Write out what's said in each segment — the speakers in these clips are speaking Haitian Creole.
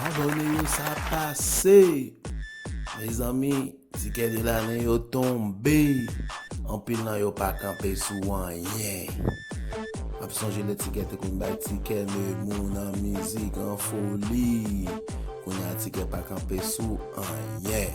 Abone yo sa ap pase. Mezanmi tikè de lane yo tonbe. Anpil nan yo pa kanpe sou anyen. Ap sonje lè tikè te konn bay tikè de moun an mizik an foli. Kounya tikè pa kanpe sou anyen.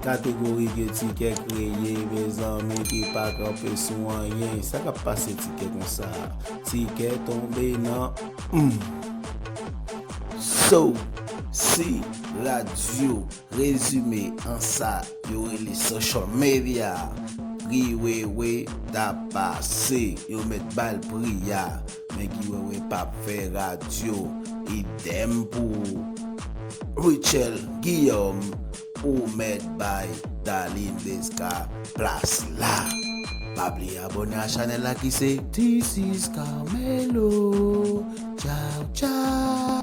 Kategori ke tikè kreye mezanmi ki pa kanpe sou anyen sa kap pase tikè konsa tikè tonbe nan humm. So si radio rezime an sa yo rele social media pri wewe ta pase yo met bal pri a men guy wewe pap fè radio idem pou Rutshelle Guillaume. Ou mèt bay Darline Desca plas la. Pa bliye abone a chanel la ki se. This is Carmelo Chow chow.